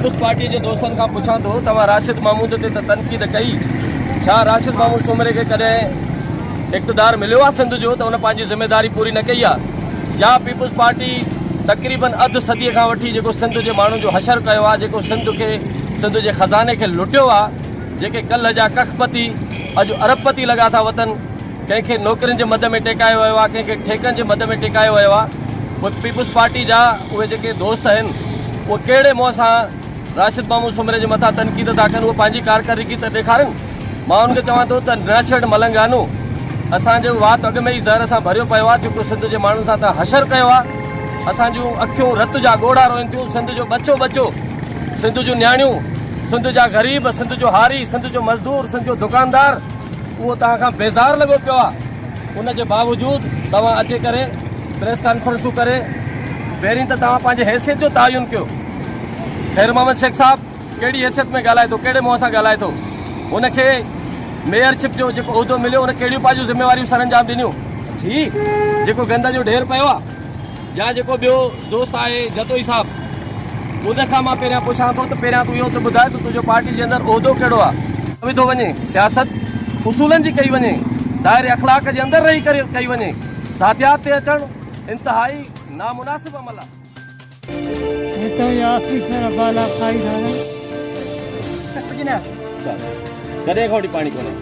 Peoples پارٽيء جي دوستن کان پڇان ٿو، توهان راشد محمود تي ته تنقيد ڪئي، ڇا راشد محمود سومري کي ڪڏهن اقتدار مليو آهي سنڌ جو ته ان پنهنجي ذميواري پوري نه ڪئي آهي يا پيپلز پارٽي تقريبن اڌ صديء کان وٺي جيڪو سنڌ جي ماڻهن جو حشر ڪيو آهي، جيڪو سنڌ کي سنڌ جي خزاني کي لٽيو آهي، جيڪي ڪلهه جا ڪک پتي اڄ ارب پتي لڳا ٿا وتن. ڪنهن کي نوڪرين جي مد ۾ ٽيڪايو ويو آهي ڪنهن کي ٺيڪن جي مد ۾ ٽيڪايو ويو آهي پوء پيپلز پارٽي جا اهي جيڪي دوست آهن اهي ڪهڙي منهن سان راشد محمود سومري جي مٿان تنقيد ٿا ڪن اهي پنهنجي ڪارڪردگي ته ڏيکارن مان انهن کي چوان ٿو ته ناشرڊ ملنگانو اسان جو وات اڳ ۾ ئي زهر سان ڀريو پيو آهي جيڪو سنڌ جي ماڻهن سان ته حشر ڪيو آهي اسان جون اکيون رت جا ڳوڙها روئن ٿيون سنڌ جو ٻچو ٻچو سنڌ جون نياڻيون سنڌ جا غريب سنڌ جو هاري سنڌ جو مزدور سنڌ جو دڪاندار اهو توهان کان بيزار لڳو پيو آهي ان جي باوجود توهان اچي ڪري پريس ڪانفرنسون ڪري پهرين ته توهان پنهنجي حيثيت جو تعين ڪيو خير محمد شيخ صاحب ڪهڙي حيثيت ۾ ڳالهائي ٿو ڪهڙي منهن سان ڳالهائي ٿو ان کي ميئر شپ جو جيڪو عهدو مليو ان ڪهڙيون پنهنجون ذميواريون سر انجام ڏنيون جي جيڪو گند جو ڍير پيو آهي يا جيڪو ٻيو دوست آهي جتوئي صاحب ان کان مان پهريان پڇان ٿو ته پهريان تون اهو ته ٻڌاء ته تنهنجو پارٽي جي اندر عهدو ڪهڙو آهي؟ وڌو وڃي سياست اصولن جي ڪئي وڃي دائري اخلاق جي اندر رهي ڪري ڪئي وڃي ذاتيات تي اچڻ انتهائي نامناسب عمل آهي.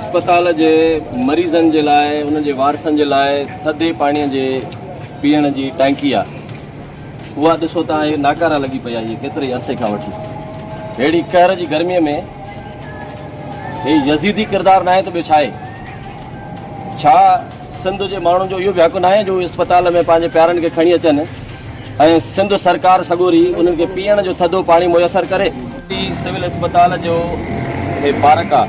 اسپتال جي مريضن جي لاء انهن جي وارثن جي لاء ٿڌي پاڻي جي پيئڻ جي ٽانڪي آهي اها ڏسو ته هي ناڪارا لڳي پئي آهي ڪيتري عرصي کان وٺي اهڙي قهر جي گرمي ۾ هي يزيدي ڪردار ناهي ته ٻيو ڇا آهي ڇا سنڌ جي ماڻهن جو اهو به حق ناهي جو اسپتال ۾ پنهنجي پيارن کي کڻي اچن ۽ سنڌ سرڪار سڳوري انهن کي پيئڻ جو ٿڌو پاڻي ميسر ڪري. ٽي سول اسپتال جو هي پارڪ آ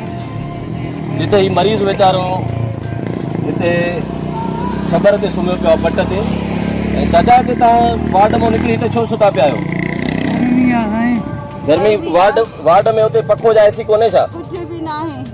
جتي هي مريض ويچارو هتي ڇٻر تي سمهيو پيو آ پٽ تي ۽ دادا تي تان وارڊ مون نڪري هتي ڇو ستا پيا آهيو گرمي وارڊ وارڊ ۾ هتي پکو جا اي سي ڪونهي ڇا.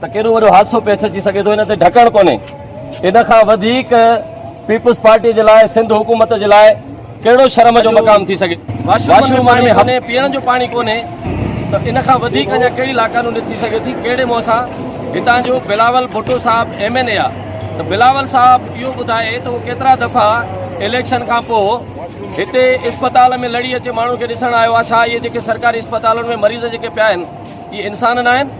ته ڪيڏو وڏو حادثو پيش اچي سگهي ٿو ان تي ڍڪڻ ڪونهي ان کان وڌيڪ پيپلز پارٽي جي لاء سنڌ حڪومت جي لاء ڪهڙو شرم جو مقام ٿي سگهي واشروم ۾ هني پيئڻ جو پاڻي ڪونهي ته ان کان وڌيڪ اڃا ڪهڙي لاقانونيت ٿي سگهي ٿي ڪهڙي منهن سان هتان جو بلاول ڀٽو صاحب ايم اين اي آ ته بلاول صاحب اهو ٻڌائي ته هو ڪيترا دفعا اليڪشن کان پوء هتي اسپتال ۾ لڙي اچي ماڻهو کي ڏسڻ آيو آ ڇا اهي جيڪي سرڪاري اسپتالن ۾ مريض جيڪي پيا آهن اهي انسان ناهن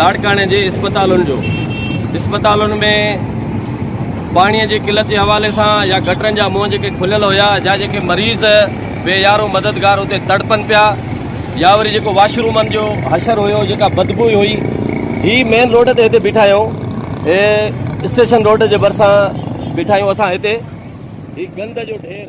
لاڙڪاڻي جي اسپتالن جو اسپتالن ۾ پاڻي جي قلت جي حوالي سان يا گٽرن جا منهن جيڪي کليل هيا جا جيڪي مريض بي يارو مددگار اتي تڙپن پيا يا وري جيڪو واشرومن جو حشر هيو جيڪا بدبوئي هئي هي مين روڊ تي هتي بيٺا آهيون هي اسٽيشن روڊ جي ڀرسان بيٺا آهيون اسان هتي هي گند جو ڍير.